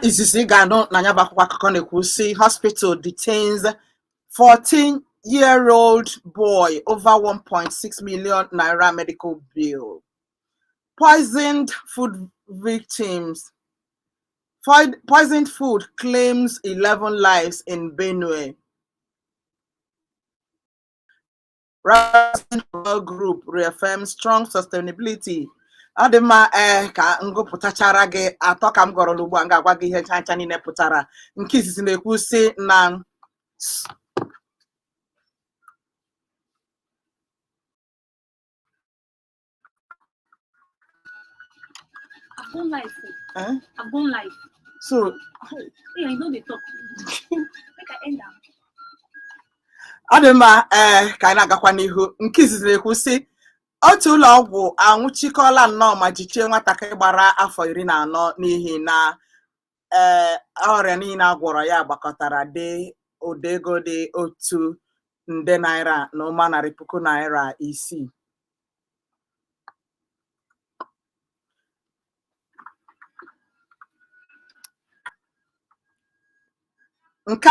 izizi ị ga-anụ na nya bụ akwụkwọ akụkọ na-ekwu sị hospital detains 14 year old boy over 1.6 million naira medical bill poisoned food victims poisoned food claims 11 lives in benue Radisson Hotel Group reaffirms strong sustainability ọ dị mma ee eh, ka m gụpụtachara gị atọ ka m gụọrọ n'ugbu a m ga-agwa gị ihe ncha ncha niile pụtara nke izizi na-ekwu sị na I've gone live. Huh? I've gone live. So. Hey, I no dey talk. Make I end am. ọ dị mma ee eh, ka anyị na-agakwa n'ihu nke izizi na-ekwu sị otu ụlọ ọgwụ anwụchikọla nnọọ ma jichie nwatakịrị gbara afọ iri na anọ n'ihi na ee eh, ọrịa niile a gwọrọ ya gbakọtara dị ụdị ego dị otu nde naira na ụma narị puku naira isii nke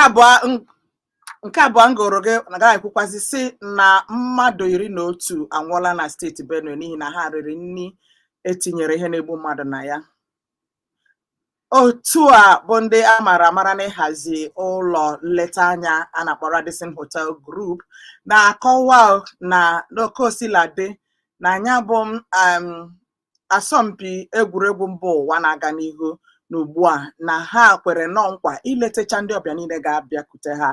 abụọ m gụọrọ gị ga-ekwukwazi sị na mmadụ iri na otu anwụọla na steeti benue n'ihi na ha riri nri e tinyere ihe na-egbu mmadụ na ya otu a bụ ndị a mara amara n'ịhazi ụlọ nleta anya a na-akpọ Radisson Hotel Group na-akọwa na n'oke o sila dị na anya bụ um, asọmpi egwuregwu mba ụwa na-aga n'ihu n'ugbu a na ha kwere nnọọ nkwa iletacha ndị ọbịa niile ga-abịakute ha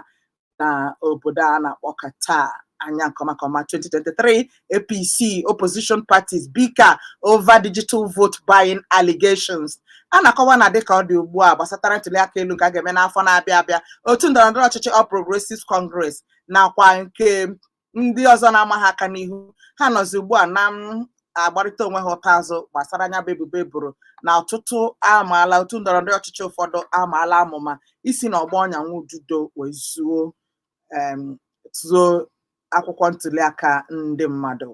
na obodo a na-akpọ Qatar anya nke ọma nke ọma 2023 APC opposition parties bicker over digital vote buying allegations a na-akọwa na dịka ọ dị ugbu a gbasatara ntuliaka elu nke a ga-eme n'afọ na-abịa abịa otu ndọrọndọrọ ọchịchị All Progressives Congress nakwa nke ndị ọzọ na-ama ha aka n'ihu ha nọzi ugbu a na-agbarịta onwe ha ụta azụ gbasara anya bụ ebubo e boro na ọtụtụ amaala otu ndọrọ ndọrọ ọchịchị ụfọdụ amaala amụma isi na ọgba ọnya nwa ududo wee zụọ em, zụọ akwụkwọ ntuliaka ndị mmadụ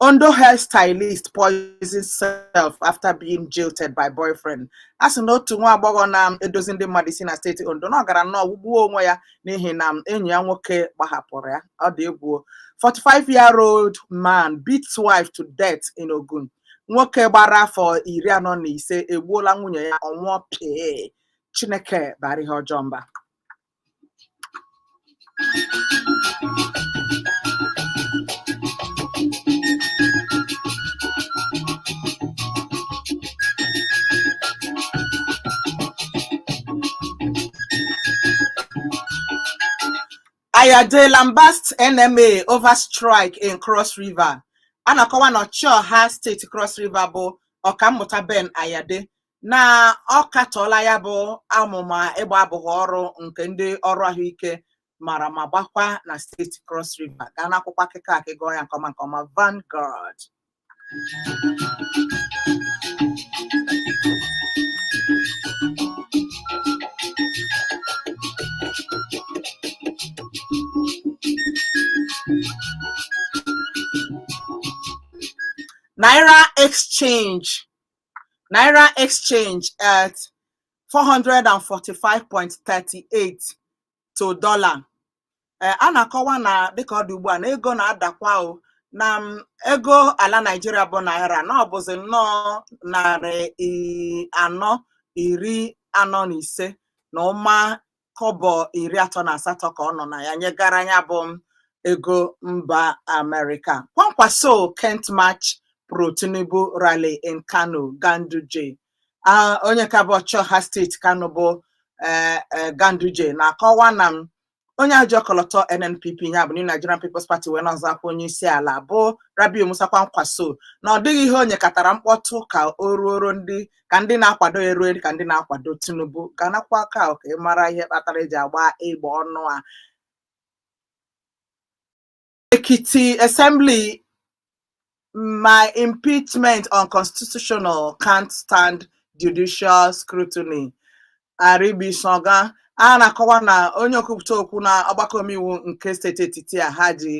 Ondo hairstylist poisons self after being jilted by boyfriend. A sị na otu nwa agbọghọ na-edozi ndị mmadụ isi na steeti Ondo na ọ gara nnọọ ṅụgbuo onwe ya n'ihi na enyi ya nwoke gbahapụrụ ya. Ọ dị egwu. 45-year-old man beats wife to death in Ogun. Nwoke gbara afọ iri anọ na ise egbuola nwunye ya ọ nwụọ pịị. Chineke baara ihe ọjọọ mba. Ayade Lambast NMA over strike in Cross River. A na-akọwa na ọchịọha steeti Cross River bụ Ọkammụta Ben Ayade na ọ katọọla ya bụ amụma ịgba abụbọ ọrụ nke ndị ọrụ ahụike mara ma gbakwa na steeti Cross River gaa n'akwụkwọ akụkọ a ka ị gụọ ya nke ọma nke ọma Vanguard Naira exchange Naira exchange at 445.38 to dollar. Eh, a na-akọwa na dịka ọ dị ugbu a na ego na-adakwa o na mm, ego ala Naịjirịa bụ naira na ọ bụzi nnọọ narị i- anọ iri anọ na ise na ụma kọbọ iri atọ na asatọ ka ọ nọ na ya nyegara ya bụ ego mba Amerịka Kwankwaso can't match pro Tinubu rally in Kano Ganduje onye ka bụ ọchịọha steeti Kano bụ eh, eh, Ganduje na-akọwa na mm onye a ji ọkọlọtọ NNPP ya bụ New Nigerian People's Party wee na-azọ ọkwa onye isi ala bụ Rabiu Musa Kwankwaso na ọ dịghị ihe o nyekatara mkpọtụ ka o ruoro ndị ka ndị na-akwado ya ruo ka ndị na-akwado Tinubu gaa n'akwụkwọ akụkọ ka ị mara ihe kpatara e ji agba egbe ọnụ a Ekiti Assembly my impeachment unconstitutional can't stand judicial scrutiny Aribisogan a na-akọwa na onye okwupụta okwu na ọgbakọ omeiwu nke steeti Ekiti a ha ji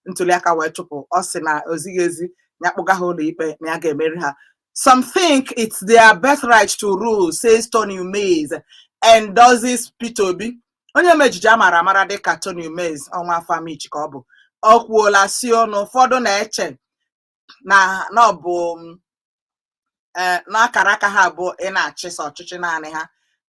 ntuliaka wee chụpụ ọ sị na o zighị ezi ya kpụga ha ụlọikpe na ya ga-emeri ha Some think it's their birthright to rule, says Tony Umez, endorses Peter Obi. Onye omeejije a mara amara dịka Tony Umez ọ nwa afọ Amichi ka ọ bụ o kwuola sị o na ụfọdụ na-eche na na ọ bụ mm, eh, na akara aka ha bụ ị na-achịsa ọchịchị naanị ha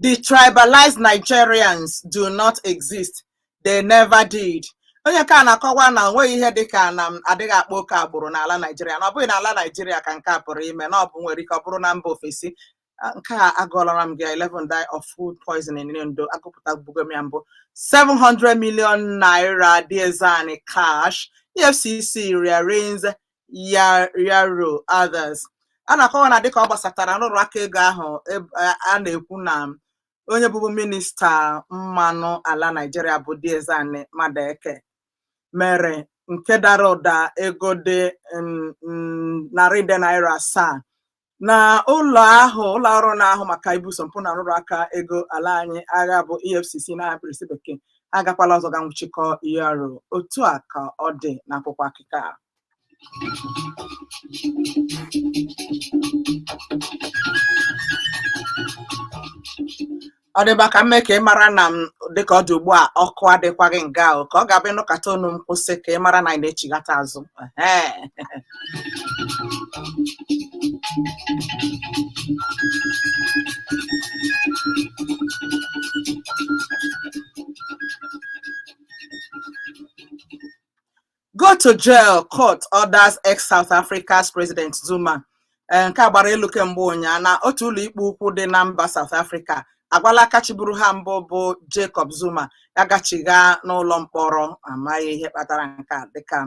Detribalized Nigerians do not exist. They never did. Onye nke a na-akọwa na o nweghị ihe dịka na m adịghị akpa oke agbụrụ n'ala Naijiria na ọ bụghị n'ala Naijiria ka nke a pụrụ ime na ọ bụ nwere ike ọ bụrụ na mba ofesi Ah, nke a agụọlara m gị 11 die of food poisoning in Ondo agụpụtabugo m ya mbụ 700 million naira diezani cash EFCC re-arraigns ya- yaro others a na-akọwa na dịka ọ gbasatara nrụrụ aka ego ahụ eb- a a na-ekwu na onye bụbu minista mmanụ ala naijiria bụ Diezani Madueke mere nke dara ụda ego dị mm, mm, narị nde naira asaa na ụlọ ahụ ụlọ ọrụ na-ahụ maka ibuso mpụ na nrụrụ aka ego ala anyị agha bụ EFCC na mkpirisi bekee agakwala ọzọ ga nwụchikọ Yaro otu a ka ọ dị n'akwụkwọ akụkọ a ọ dịba ka m mee ka ị mara na m dịka ọ dị ugbu a ọkụ adịkwaghị nga ahụ ka ọ ga-abụ ị nụkata onu m kwụsị ka ị mara na anyị na-echighata azụ Ehe. Go to jail, court orders ex South Africa's President Zuma. Eh, nke a gbara elu kemgbe ụnyaa na otu ụlọikpe ukwu dị na mba South Africa agwala aka chịburu ha mbụ bụ Jacob Zuma ya gachigha n'ụlọ mkpọrọ amaghị ihe kpatara nke a dịka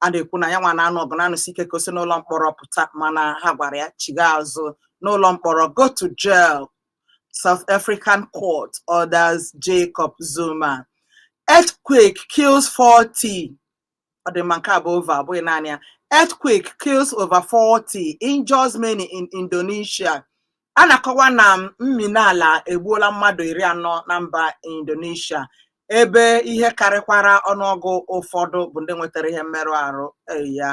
a na-ekwu na ya nwa na-anụ ọgụ na-anụsi ike ka o si n'ụlọ mkpọrọ pụta mana ha gwara ya chigha azụ n'ụlọ mkpọrọ go to jail South African court orders Jacob Zuma. Earthquake kills 40. Ọ dị mma nke a bụ over, ọ bụghị naanị ya. Earthquake kills over 40, injures many in Indonesia. A na-akọwa na mm, mmina ala egbuola mmadụ iri anọ na mba Indonesia ebe ihe karịkwara ọnụọgụ ụfọdụ bụ ndị nwetara ihe mmerụ arụ ya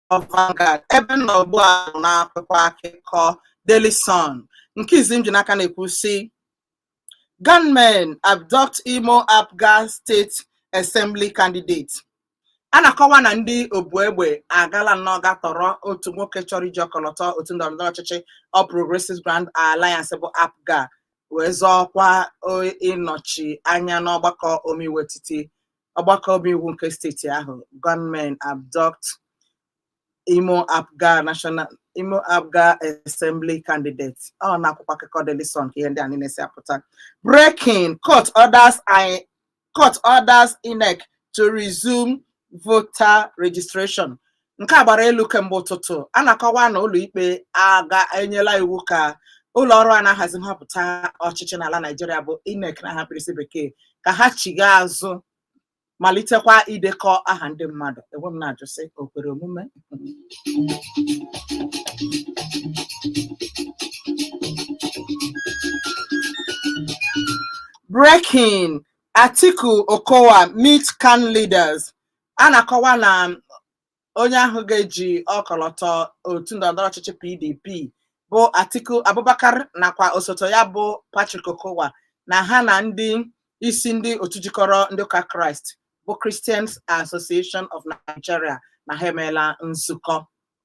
Vanguard ebe m nọ ugbu a bụ n'akwụkwọ akụkọ Daily Sun nke izi m ji n'aka na-ekwu sị gunmen abduct Imo Apga State Assembly candidate a na-akọwa na ndị obu egbe agala nnọọ ga tọrọ otu nwoke chọrọ iji ọkọlọtọ otu ndọrọ ndọrọ ọchịchị All Progressives Grand Alliance bụ APGA wee zọọkwa ịnọchi anya n'ọgbakọ omeiwu etiti ọgbakọ omeiwu nke steeti ahụ gunmen abduct imo apga national imo apga assembly candidate ọ n'akwụkwọ akụkọ Daily Sun ka ihe ndị a niile si apụta breaking court orders I- court orders INEC to resume voter registration nke a gbara elu kemgbe ụtụtụ a na-akọwa na ụlọikpe aga enyela iwu ka ụlọ ọrụ a na-ahazi nhọpụta ọchịchị n'ala Naịjirịa bụ INEC n'aha mkpirisi bekee ka ha chigha azụ malitekwa idekọ aha ndị mmadụ e wee m na-ajụ sị o kwere omume Breaking Atiku Okowa meet CAN leaders a na-akọwa na onye ahụ ga-eji ọkọlọtọ otu ndọrọndọrọ ọchịchị PDP bụ Atiku Abubakar nakwa osote ya bụ Patrick Okowa na ha na ndị isi ndị otu jikọrọ ndị ụka Kraịst bụ Christians Association of Nigeria na ha emeela nzukọ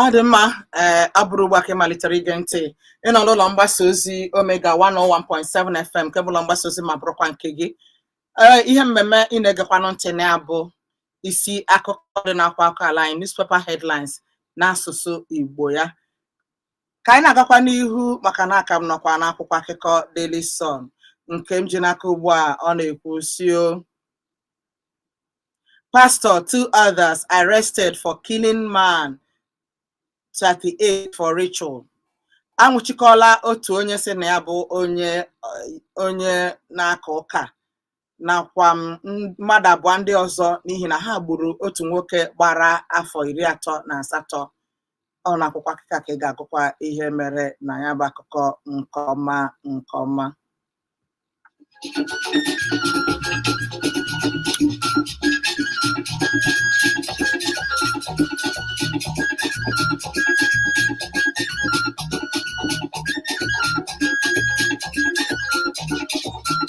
ọ dị mma ee a bụrụ ugbu a ka ị malitere ige ntị ị nọ n'ụlọ mgbasa ozi omega 101.7 fm nke bụ ụlọ mgbasa ozi ma bụrụkwa nke gị ee ihe mmemme ị na-egekwanụ ntị na ya bụ isi akụkọ dị n'akwụkwọ akụkọ ala anyị newspaper headlines n'asụsụ Igbo ya ka anyị na-agakwa n'ihu maka na a ka m nọkwa n'akwụkwọ akụkọ Daily Sun nke m ji n'aka ugbu a ọ na-ekwu sio Pastor two others arrested for killing man 38 for ritual anwụchikọla otu onye sị na ya bụ onye na-aka ụka nakwa mmadụ abụọ ndị ọzọ n'ihi na ha gburu otu nwoke gbara afọ iri atọ na asatọ ọ n'akwụkwọ akụkọ ka ị ga-agụkwa ihe mere na ya bụ akụkọ nke ọma nke ọma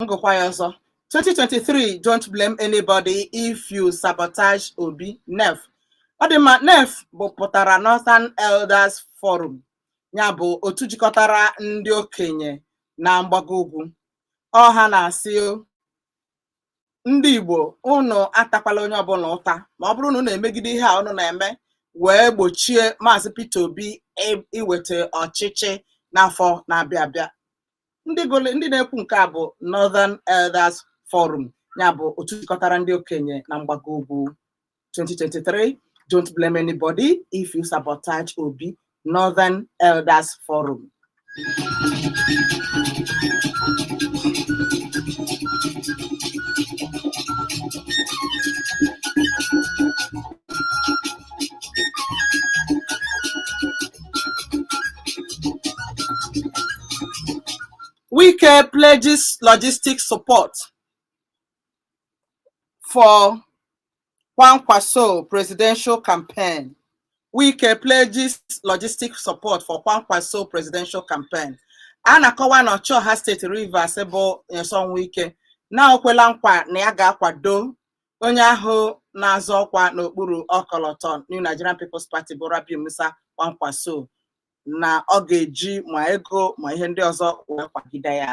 m gụkwa ya ọzọ 2023 don't blame anybody if you sabotage obi nef ọ dị mma nef bụ pụtara northern elders forum ya bụ otu jikọtara ndị okenye na mgbago ugwu ọ ha na-asị o, ndị igbo unu atakwala onye ọbụla ụta ma ọ bụrụ na unu emegide ihe a unu na-eme wee gbochie maazị peter obi i- iweta ọchịchị n'afọ na-abịa abịa ndị na-ekwu nke a bụ Northern Elders Forum ya bụ otu jikọtara ndị okenye na mgbago ugwu 2023 don't blame anybody if you sabotage Obi Northern Elders Forum Wike pledges logistic support for Kwankwaso presidential campaign. Wike pledges logistic support for Kwankwaso presidential campaign. A na-akọwa na Ọchịọha steeti Rivers bụ Nyesom Wike na o kwela nkwa na ya ga-akwado onye ahụ na-azọ ọkwa n'okpuru ọkọlọtọ New Nigerian People's Party bụ Rabiu Musa Kwankwaso na ọ ga-eji ma ego ma ihe ndị ọzọ wee kwagide ya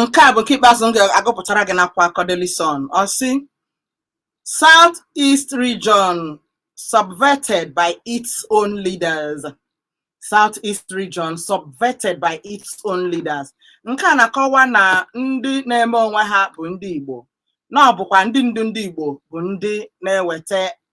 nke a bụ nke ikpeazụ m ga-agụpụtara gị n'akwụkwọ akụkọ Daily Sun ọ sị South East region subverted by its own leaders South East region subverted by its own leaders nke a na-akọwa na ndị na-eme onwe ha bụ ndị Igbo na ọ bụkwa ndị ndu ndị Igbo bụ ndị na-eweta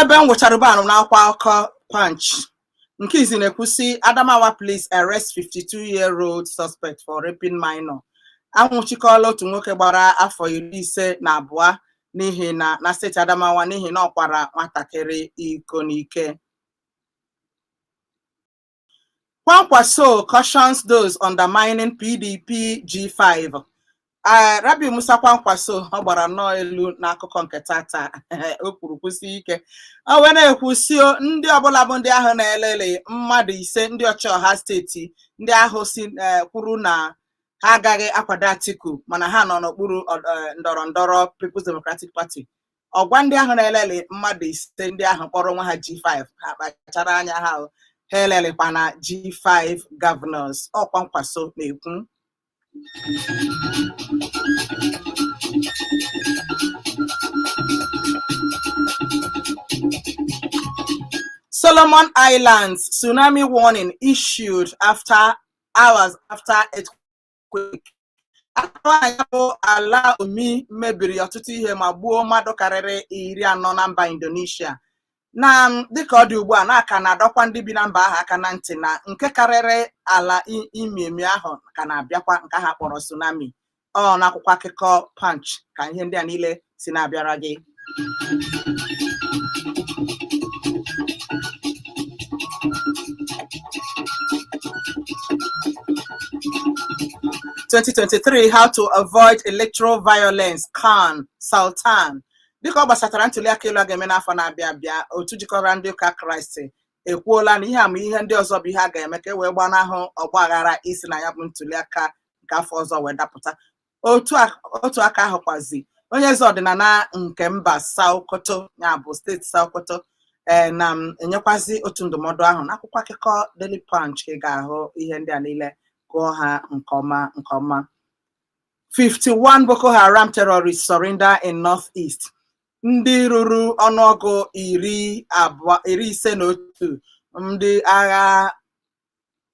ebe m gụchara ugbu a anọ m n'akwụkwọ akụkọ punch nke izi na-ekwu sị adamawa police arrest 52 year old suspect for raping minor anwụchikọọla otu nwoke gbara afọ iri ise na abụọ n'ihi na na steeti adamawa n'ihi na ọ kwara nwatakịrị iko n'ike Kwankwaso cautions those undermining PDP G5. Uh, Rabiu Musa Kwankwaso ọ gbara nnọọ elu n'akụkọ nke tata o kwuru kwusi ike o wee na-ekwu sị o ndị ọbụla bụ ndị ahụ na-eleli mmadụ ise ndị ọchịọha steeti ndị ahụ si eh, kwuru na ha agaghị akwado Atiku mana ha nọ n'okpuru ọ- eh, ndọrọ ndọrọ People's Democratic Party ọ gwa ndị ahụ na-eleli mmadụ ise ndị ahụ kpọrọ onwe ha G5 ha kpachara anya ha o. ha elelikwana G5 governors ọ Kwankwaso na-ekwu Solomon Islands tsunami warning issued after hours after earthquake earthquake. A na-akọwa na ya bụ ala omi mebiri ọtụtụ ihe ma gbuo mmadụ karịrị iri anọ na mba Indonesia. Na dịka ọ dị ugbu a na a ka na-adọkwa ndị bi na mba ahụ aka na ntị na nke karịrị ala i- imi emi ahụ ka na-abịakwa nke ha kpọrọ tsunami. Ọ n'akwụkwọ akụkọ Punch ka ihe ndị a niile si na-abịara gị Twenty twenty three how to avoid electoral violence CAN Sultan dịka ọ gbasatara ntuliaka elu a ga-eme n'afọ na-abịa abịa otu jikọrọ ndị ụka Kraịst ekwuola na ihe a ma ihe ndị ọzọ bụ ihe a ga-eme ka e wee gbanahụ ọgba aghara isi na ya bụ ntuliaka nke afọ ọzọ wee dapụta otu a- otu aka ahụkwazi onye eze ọdịnala nke mba Sokoto ya bụ steeti Sokoto ee na-enyekwazi otu ndụmọdụ ahụ n'akwụkwọ akụkọ Daily Punch ka ị ga-ahụ ihe ndị a niile gụọ ha nke ọma nke ọma 51 Boko Haram terrorists surrender in northeast ndị ruru ọnụọgụ iri abụọ iri ise na otu ndị agha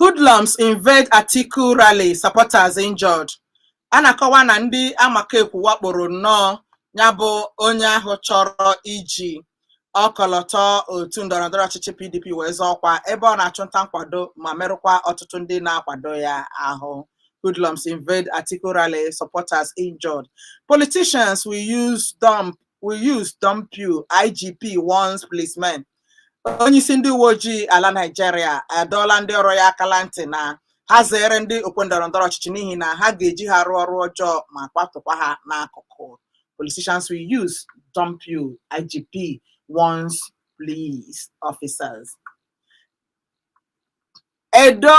Hoodlums invade Atiku rally, supporters injured. A na-akọwa na ndị amakekwu wakporo nnọọ ya bụ onye ahụ chọrọ iji ọkọlọtọ otu ndọrọndọrọ ọchịchị PDP wee zọọ ọkwa ebe ọ na-achụ nta nkwado ma merụkwa ọtụtụ ndị na-akwado ya ahụ. Hoodlums invade Atiku rally, supporters injured. Politicians will use dump will use dump you, IGP warns policemen. onye isi ndị uwe ojii ala Naịjirịa adọọla ndị ọrụ ya aka na ntị na ha zere ndị okwe ndọrọ ndọrọ ọchịchị n'ihi na ha ga-eji ha rụọ ọrụ ọjọọ ma kwatụkwa ha n'akụkụ politicians will use dump you IGP warns police officers Edo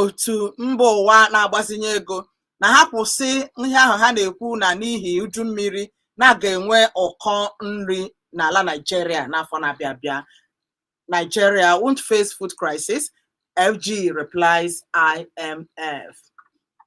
otu mba ụwa na-agbazinye ego na ha kwụsị ihe ahụ ha na-ekwu na n'ihi uju mmiri na a ga-enwe ụkọ nri n'ala Nigeria n'afọ na-abịa abịa. Nigeria won't face food crisis, FG replies IMF.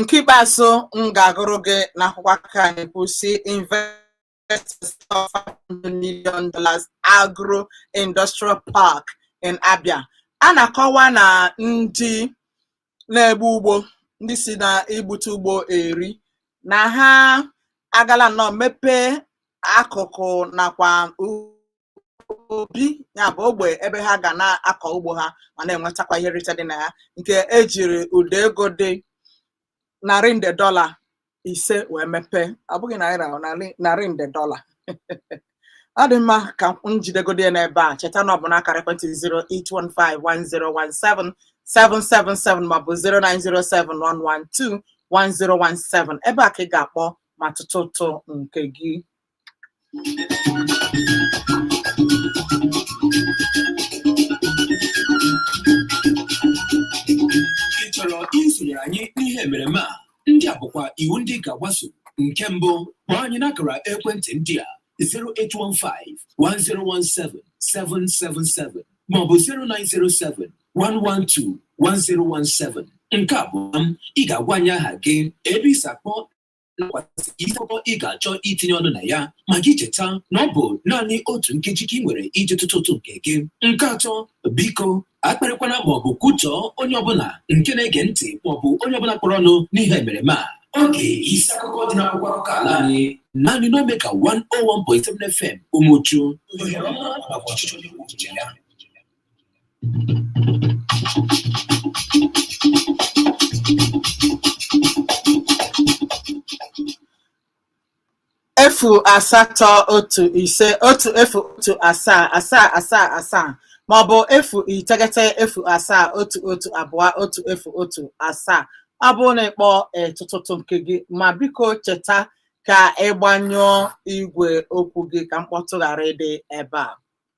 nke ikpeazụ m ga-agụrụ gị n'akwụkwọ a ka anyị pụ sị investors of 500 million dollars agro industrial park in Abia a na-akọwa na ndị na-egbu ugbo ndị si na igbute ugbo eri na ha agala nnọọ mepee akụkụ nakwa u- ubi ya bụ ogbe ebe ha ga na-akọ ugbo ha ma na-enwetakwa ihe nrite dị na ya nke ejiri ụda ego dị narị nde dọla ise wee mepee ọ bụghị naira ọ narị narị nde dọla ọ dị mma ka m jidegodi ya n'ebe a cheta na ọ bụ n'akara ekwentị 08151017777 maọbụ 09071121017 ebe a ka ị ga-akpọ ma tụtụ ụtụ nke gị ị chọrọ isonyere anyị n'ihe emereme a ndị a bụkwa iwu ndị ị ga-agbaso nke mbụ kpọọ anyị n'akara ekwentị ndị a 08151017777 maọbụ 09071121017 nke abụọ m ị ga-agwa anyị aha gị ebe i si akpọ nakwazị isi akụkọ ị ga-achọ itinye ọnụ na ya ma gị cheta na ọ bụ naanị otu nkeji ka ị nwere iji tụtụ ụtụ nke gị nke atọ biko akparịkwana maọbụ kwutọọ onye ọbụla nke na-ege ntị maọbụ onye ọbụla kpọrọ ọnụ n'ihe emereme a oge isi akụkọ dị n'akwụkwọ akụkọ ala anyị naanị n'Omega 101.7 FM Umuchu efu asatọ otu ise otu efu otu asaa asaa asaa asaa ma ọ bụ efu iteghete efu asaa otu otu abụọ otu efu otu asaa ọ bụrụ na ị kpọọ ị tụtụ ụtụ nke gị ma biko cheta ka ị gbanyụọ igwe okwu gị ka mkpọtụ ghara ịdị ebe a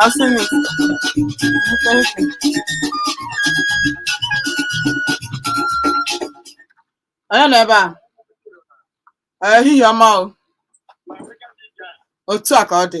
I'll sing this. Onye nọ ebe a? Ehihie ọma o. Otu a ka ọ dị.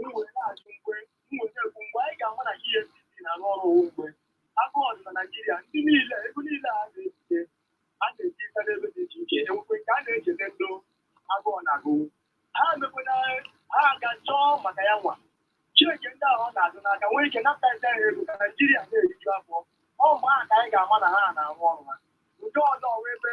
mgbe na-ekwu mgbe anyị ga-ama na EFCC na-arụ ọrụ ọ wụ mgbe agụụ dị na Naijiria ndị niile ego niile a na-ebute a na-ebita n'ebe dị iche iche enwekwe nke a na-echete ndị agụụ na-agụ ha emekwana ha aga chọọ maka ya nwa Chineke ndị ahụ ọ na-azụ n'aka nwee ike napụta ya ego ka Naijiria na-eriju afọ ọ mgbe ahụ ka anyị ga-ama na ha na-arụ ọrụ ha nke ọzọ wee ebe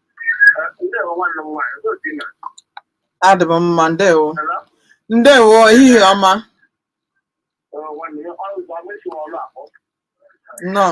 adị m mma ndewo ndewo ehihie ọma nnọọ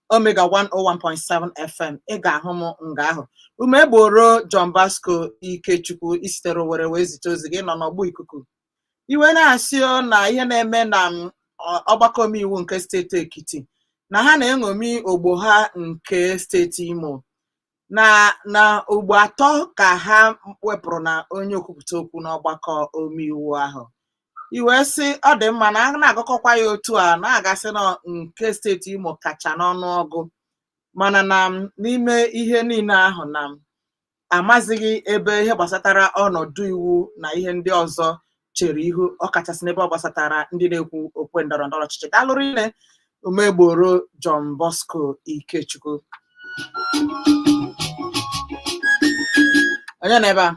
Omega 101.7 FM ị ga-ahụ m nga ahụ Umegboro John Bosco Ikechukwu i sitere Owerri wee zite ozi gị nọ n'ọgbọ ikuku i wee na-asị o na ihe na-eme na m, ọ- ọgbakọ omeiwu nke steeti Ekiti na ha na-eṅomi ogbo ha nke steeti Imo na na ugbo atọ ka ha wepụrụ na onye okwupụta okwu n'ọgbakọ omeiwu ahụ i wee sị ọ dị mma na a na-agụkọkwa ya otu a na a ga-asị na nke steeti Imo kacha n'ọnụọgụ mana na m n'ime ihe niile ahụ na m amazighị ebe ihe gbasatara ọnọdụ iwu na ihe ndị ọzọ chere ihu ọkachasị n'ebe ọ gbasatara ndị na-egwu okwe ndọrọ ndọrọ ọchịchị daalụ rinne Umegboro John Bosco Ikechukwu onye nọ ebe a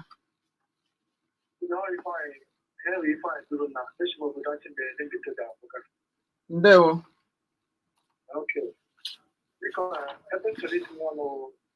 ndewo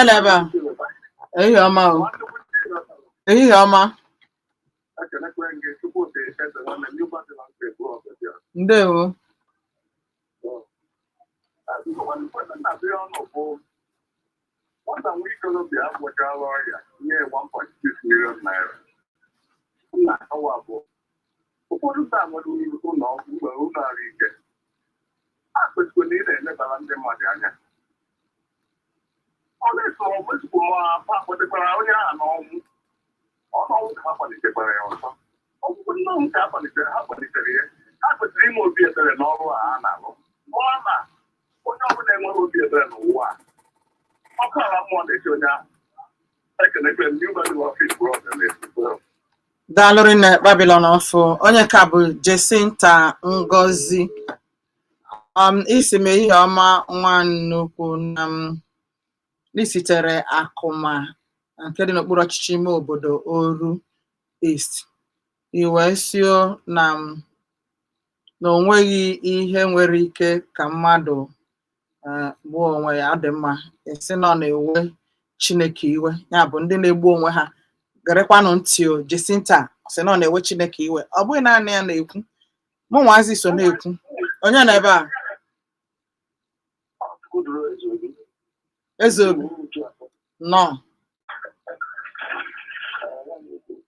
Eleba, ehihie ọma o. Ehihie ọma, ndewo. nwata nwa ikolobịa agwọchala ọrịa nye 1.6 million naira nna awa abụọ ụfọdụ ndị mmadụ uru ụlọ ọgwụ mgbe ụlọ ahụ ike a kwesịrị na ị na-elebara ndị mmadụ anya ọ na-eso ọgwụ ezigbo ma afọ akpọtekwara onye ahụ n'ọnwụ ọ n'ọnwụ ka ha kpalitekwara ya ọzọ ọgwụgwụ ndị ọnwụ ka ha kpalitere ha kpalitere ya ha kwesịrị ime obi ebere n'ọrụ a ha na-alụ maka na onye ọbụla enwerọ obi ebere n'ụwa a, ọkụ ala mmụọ na-eche onye ahụ ekenekwe m new battle of his brother na-esikwa daalụ rinne Babylon ọfụ onye ka bụ Jacinta Ngozi um, ị sị m ehihie ọma nwa nnukwu na m na i sitere Akuma nke dị n'okpuru ọchịchị ime obodo Oru East I wee sị o na m na o nweghị ihe nwere ike ka mmadụ eh, gbuo onwe ya ọ dị mma ị sị na ọ na-ewe Chineke iwe ya bụ ndị na-egbu onwe ha gerekwanụ ntị o Jacinta sị na ọ na-ewe Chineke iwe ọ bụghị naanị ya na-ekwu mụ nwazi so na-ekwu onye nọ ebe a Ezeobi nọ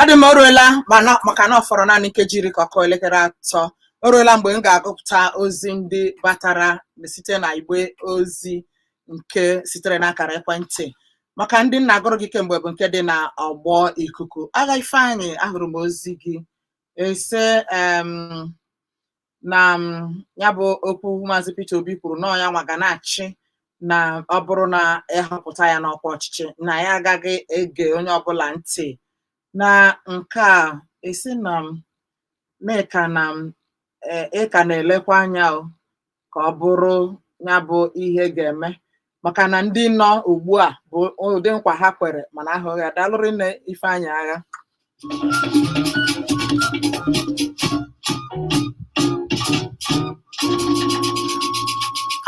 ọ dị mma o ruela maka na ọ fọrọ naanị nkeji iri ka ọ kụọ elekere atọ o ruela mgbe m ga-agụpụta ozi ndị batara site na igbe ozi nke sitere n'akara ekwentị maka ndị m na-agụrụ gị kemgbe bụ nke dị na ọgbọ ikuku agha ifeanyị ahụrụ m ozi gị ị sị em, na m, ya bụ okwu maazị Peter Obi kwuru na ọ ya nwa ga na-achị na ọ bụrụ na ị họpụta ya n'ọkwa ọchịchị na ya agaghị ege onye ọbụla ntị na nke a ị sị na nke a na m e- ị ka na-elekwa anya o ka ọ bụrụ ya bụ ihe ga-eme maka na ndị nọ ugbu a bụ ụdị nkwa ha kwere mana ahụghị ya daalụ rinne ifeanyị agha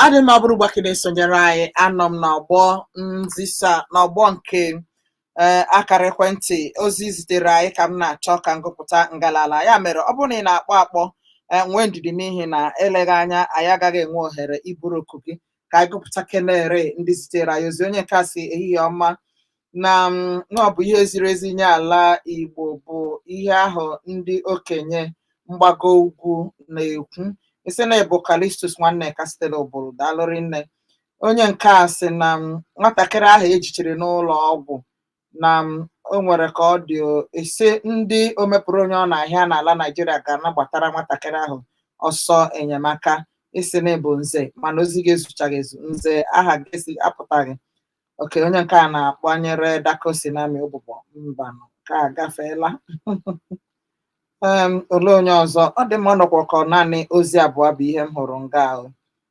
ọ dị mma ọ bụrụ ugbu a ka ị na-esonyere anyị anọ m n'ọgbọ nzisa n'ọgbọ nke ee akara ekwentị ozi zitere anyị ka m na-achọ ka m gụpụta ngalala ya mere ọ bụrụ na ị na-akpọ akpọ ee, nwee ndidi n'ihi na eleghị anya anyị agaghị enwe ohere iburu oku gị ka anyị gụpụta kenere ndị zitere anyị ozi onye nke a sị ehihie ọma na m, na ọ bụ ihe ziri ezi nye ala Igbo bụ ihe ahụ ndị okenye mgbago ugwu na-ekwu ị sị na ị bụ Kalistus Nwanneka sitere Obowo daalụ rinne Onye nke a sị na m nwatakịrị ahụ e jichiri n'ụlọ ọgwụ na m o nwere ka ọ dị o, ị sị ndị omepụrụ onye ọ na-ahịa n'ala Naịjirịa ga na-agbatara nwatakịrị ahụ ọsọ enyemaka ị sị na ị bụ nze mana ozi gị ezuchaghị ezu nze aha gị esi apụtaghị okay onye nke a na-akpanyere dako sinami ụbụbọ mbanụ ka a gafeela Em, olee onye ọzọ ọ dị mma ọ nọkwa ka ọ naanị ozi abụọ bụ ihe m hụrụ nga ahụ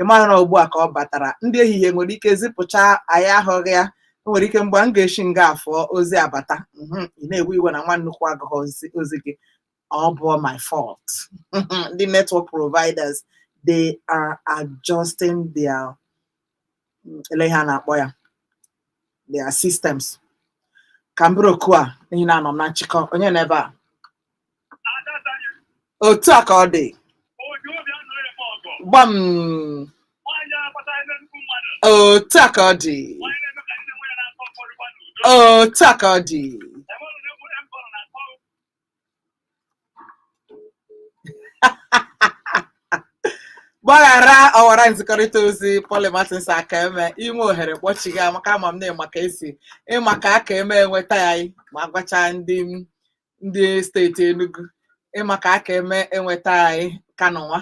ị mara na ugbu a ka ọ batara ndị ehihie nwere ike zipụcha anyị ahụghị ya o nwere ike mgbe m ga-eshi nga a fụọ ozi abata mhm, ị na-ewe iwe na nwa nnukwu agụghị ozi gị ọ bụghị my fault ndị network providers they are adjusting their mm, ele ihe a na-akpọ ya their systems ka m buru oku a n'ihi na anọ m na nchịkọ onye nọ ebe a otu a ka ọ dị gbam otu a ka ọ dị otu a ka ọ dị gbaghara ọwara nzikọrịta ozi Polly Martins aka eme i nwee ohere kpọchigha maka ama m na ị ma ka esi ị ma ka aka eme enweta anyị ma gwacha ndị m ndị steeti Enugu ị ma ka a ka eme enweta anyị ka n'ụwa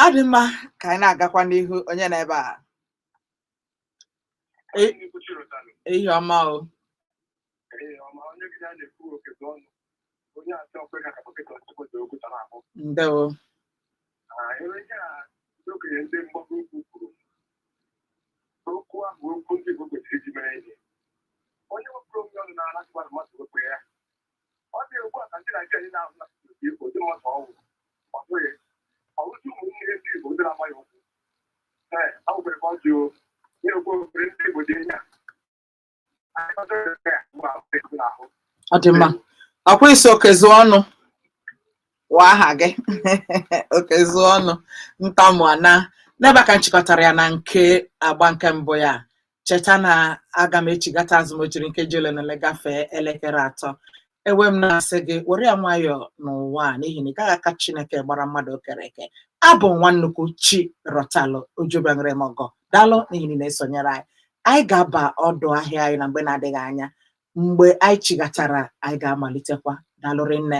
ọ dị mma ka anyị na-agakwa n'ihu onye nọ ebe a E- ehihie ọma o ndewo okenye ndị mgbago ugwu kwuru okwu ahụ okwu ndị Igbo kwesịrị iji mere ihe onye wepụrụ onwe ọnụ n'ala tụwa na mmadụ wepụ ya ọ dị ugbu a ka ndị Naijiria na-ahụ na Igbo ndị mmadụ ọnwụ ọ bụghị ọrụzi ụmụnne ndị Igbo ndị na-agba ya ụkwụ ee a nwere ka ọ dị o na-ekwu obere ndị Igbo dị anya ọ dị mma ọkwa ị sị Okezuọnụ wụ aha gị Okezuọnụ ntamu ana n'ebe a ka m chịkọtara ya na nke agba nke mbụ ya cheta na aga m echigata azụ ma o jiri nkeji ole na ole gafee elekere atọ E wee m na-asị gị, were ya nwayọọ n'ụwa a n'ihi na ị gaghị aka Chineke gbara mmadụ o kere eke. Abụ m nwa nnukwu chi rọtalụ ojubeṅere m ọgọ. Daalụ n'ihi na ị na-esonyere anyị. Anyị ga-aba ọdụ ahịa anyị na mgbe na-adịghị anya. Mgbe anyị chighatara, anyị ga-amalitekwa. Daalụ rinne.